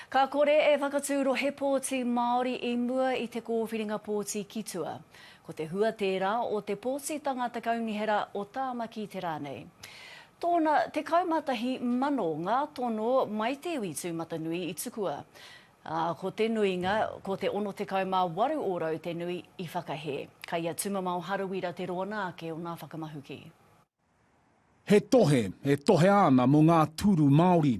Ka kore e whakatū rohe pōti Māori i mua i te kōwhiringa pōti ki tua. Ko te hua tērā o te pōtitanga Te Kaunihera o Tāmaki te rā nei. Tōna 11 mano ngā tono mai te iwi tūmatanui i tukua, ā, ko te nuinga, ko te 68 ōrau te nui, i whakahē. Kai a Tumamao Harawira te roana ake o ngā whakamahuki. He tohe e tohea ana mō ngā tūru Māori.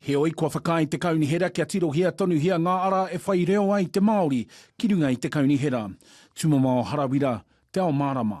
Heoi, kua whakaae te kaunihera kia tirohia tonuhia ngā ara e whai reo ai te Māori ki runga i te kaunihera. Tumamao Harawira, Te Ao Mārama.